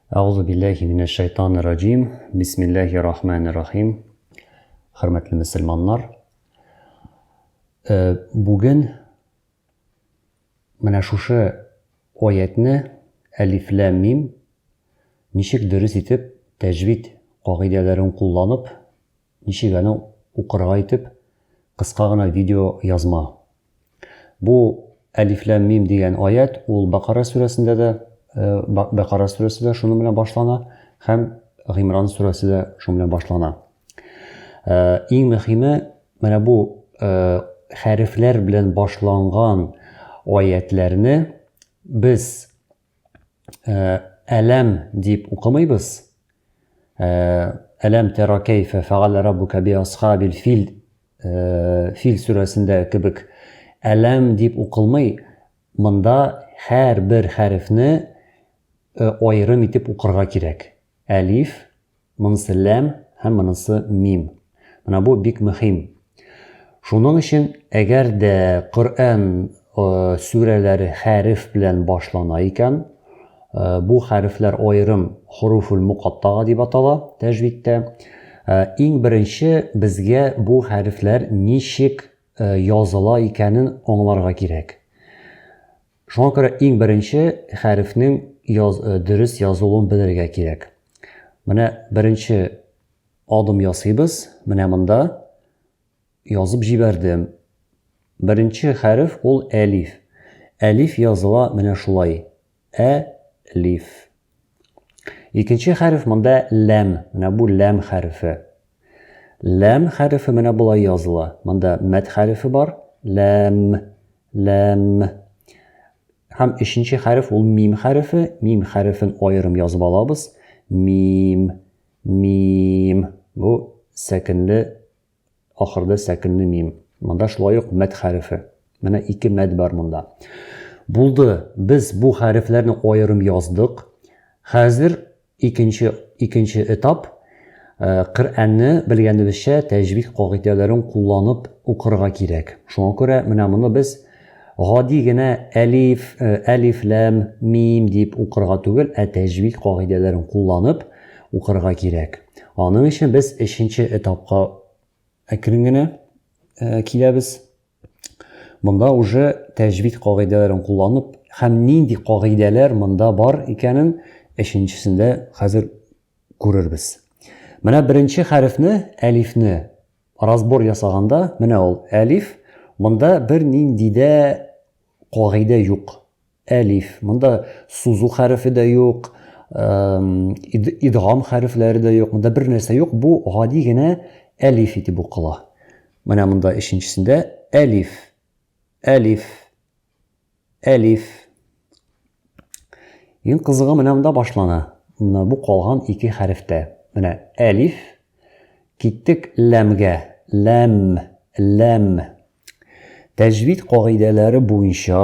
Әгъузу билләһи минәш шайтанир раҗим. Бисмилләһир рахманир рахим. Хөрмәтле мөселманнар. Э, бүген менә шушы аятьне әлиф лам мим ничек дөрес итеп тәҗвид кагыйдәләрен кулланып Ничек аны укырга итеп кыска гына видео язма. Бу Әлиф ләм мим дигән аят, ул Бакара сүрәсендә дә, Бакара сүрәсе дә шуның белән башлана һәм Гимран сүрәсе дә шуның белән башлана. Иң мөһиме, менә бу хәрефләр белән башланган аятләрне без Әләм дип укымыйбыз. Әләм тәра кәйфә фәгалә раббука би асхабил фил фил сүрәсендә кебек әләм дип укылмый. Монда һәр бер хәрефне аерым итеп укырга кирәк. Әлиф, Монысы ләм һәм монысы мим. Менә бу бик мөһим. Шуның өчен, әгәр дә Коръән сүрәләре хәреф белән башлана икән, бу хәрефләр аерым хуруфул мукаттага дип атала тәҗвидтә. Иң беренче безгә бу хәрефләр ничек языла икәнен аңларга кирәк. Шуңа күрә иң беренче хәрефнең яз, э, дөрес язылуын белергә кирәк. Менә беренче адым ясыйбыз. Менә монда язып җибәрдем. Беренче хәреф ул әлиф. Әлиф языла менә шулай. Ә лиф. Икенче хәреф монда ләм. Менә бу ләм хәрефе. Ләм хәрефе менә болай языла. Монда мәт хәрефе бар. Ләм. Ләм. Һәм өченче хәреф ул мим хәрефе. Мим хәрефен аерым язып алабыз. Мим. Мим. Бу сәкенле ахырда сәкенле мим. Монда шулай ук мәд хәрефе. Менә ике мәд бар монда. Булды. Без бу хәрефләрне аерым яздык. Хәзер Икенче икенче этап, Коръәнне, белгәнебезчә, тәҗвид кагыйдәләрен кулланып укырга кирәк. Шуңа күрә менә моны без гади генә әлиф, әлиф, ләм, мим дип укырга түгел, ә тәҗвид кагыйдәләрен кулланып укырга кирәк. Аның өчен без өченче этапка әкрен генә киләбез. Монда уже тәҗвид кагыйдәләрен кулланып һәм нинди кагыйдәләр монда бар икәнен өченчесендә хәзер күрербез. Менә беренче хәрефне, әлифне разбор ясаганда, менә ул әлиф, монда бер нинди дә кагыйдә юк. Әлиф. Монда сузу хәрефе дә юк, идгам хәрефләре дә юк, монда бер нәрсә юк, бу гади генә әлиф итеп укыла. Менә монда өченчесендә әлиф, әлиф, әлиф. Иң кызыгы менә монда башлана. Менә бу калган ике хәрефтә. Менә әлиф, киттек ләмгә, ләм, ләм. Тәҗвид кагыйдәләре буенча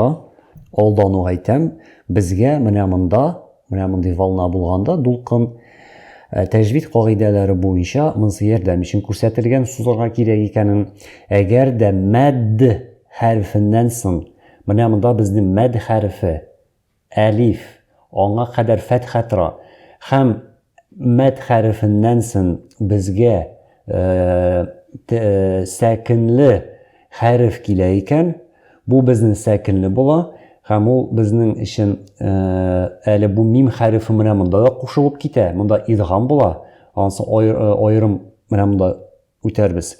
алдану әйтәм, безгә менә монда, менә мондый волна булганда дулкын э, тәҗвид кагыйдәләре буенча монсы ярдәм өчен күрсәтелгән сузырга кирәк икәнен. Әгәр дә мәд хәрфеннән соң, менә монда безнең мәд хәрфе Әлиф, аңа кадәр фәтха тора, һәм мәд хәрефеннән сон безгә т сәкенле хәреф килә икән, бу безнен сәкенле була, һәм ул безнең өчен әле бу мим хәрефе менә монда да кушылып китә, монда идгам була, ансын аерым менә монда. үтәрбез.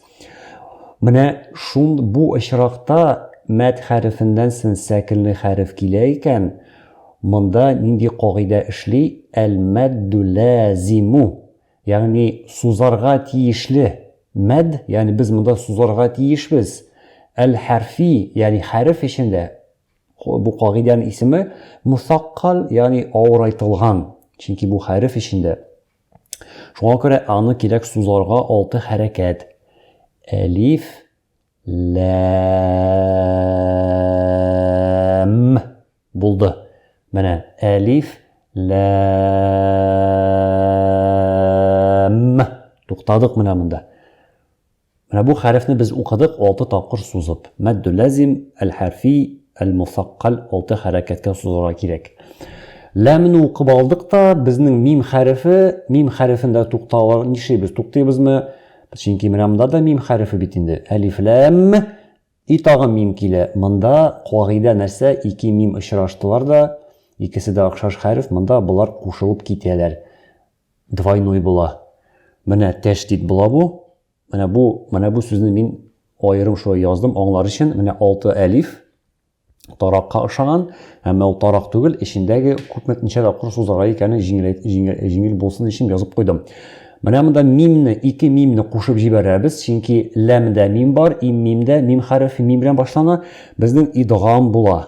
Менә шул бу очракта мәд хәрефеннән сон сәкенле хәреф килә икән, монда нинди кагыйдә эшли, әл-мәддү ләзимү, ягъни сузарга тиешле мәд, ягъни без монда сузарга тиешбез, әл-хәрфи, ягъни хәреф өчен дә, бу кагыйдәнең исеме, мусаккал, ягъни авырайтылган, чөнки бу хәреф өчен дә. Шуңа күрә аны кирәк сузарга алты хәрәкәт. Әлиф, ләм булды. Менә әлиф, ләм. Туктадык менә монда. Менә бу хәрефне без укыдык алты тапкыр сузып. Мәддү ләзим, әл-хәрфи, әл-мосаккаль алты хәрәкәткә сузарга кирәк. Ләмне укып алдык та, безнең мим хәрефе, мим хәрефендә тукталыр, нишлибез, туктыйбызмы? Чөнки менә монда да мим хәрефе бит инде. Әлиф ләм и тагын мим килә. Монда кагыйдә нәрсә? Ике мим очраштылар да, икесе дә охшаш хәреф, монда болар кушылып китәләр. Двойной була. Менә тәшдид була бу. Менә бу, менә бу сүзне мин аерым шулай яздым, аңлар өчен. Менә алты әлиф таракка ошаган, әмма ул тарак түгел, эчендәге күпме ничә тапкыр сузарга икәнен җиңел булсын өчен язып куйдым. Менә монда мимне, ике мимне кушып җибәрәбез, чөнки ләмдә мим бар, им мимдә мим хәрефе мим белән башлана, безнең идгам була.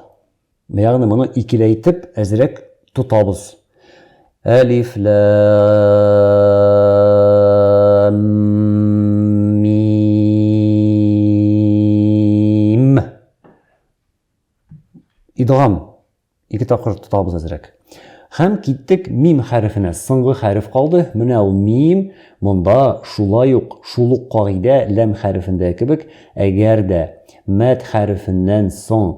Ягъни моны икеләйтеп әзрәк тотабыз. Әлиф лам мим. Идгам ике тапкыр тотабыз әзрәк. Хәм киттек мим хәрефенә. Соңгы хәреф калды. Менә ул мим. Монда шулай ук шул ук кагыйдә ләм хәрефендә кебек, әгәр дә мәд хәрефеннән соң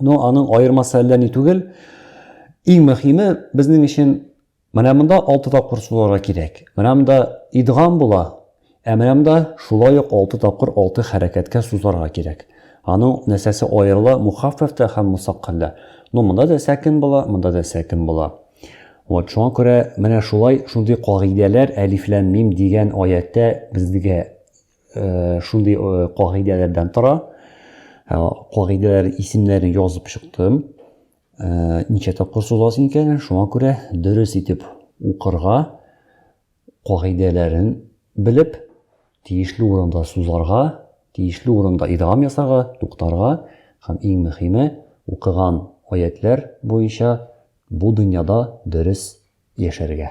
Но аның аермасы әллә ни түгел. Иң мөхиме безнең өчен менә монда 6 тапкыр суларга кирәк. Менә монда идгам була, ә менә монда шулай ук 6 тапкыр 6 хәрәкәткә сузарга кирәк. Аның нәрсәсе аерыла, мухаффафта һәм мусаккалда. Но монда да сәкин була, монда да сәкин була. Вот шуңа күрә менә шулай шундый кагыйдәләр әлиф ләм мим дигән аятта безгә э, шундый э, кагыйдәләрдән тора. Ә, кагыйдәләр исемнәрен язып чыктым. Ә, ничә тапкыр сузасың икәнен, шуңа күрә дөрес итеп укырга, кагыйдәләрен белеп, тиешле урында сузарга, тиешле урында идгам ясарга, туктарга һәм иң мөһиме, укыган аятлар буенча бу дөньяда дөрес яшәргә.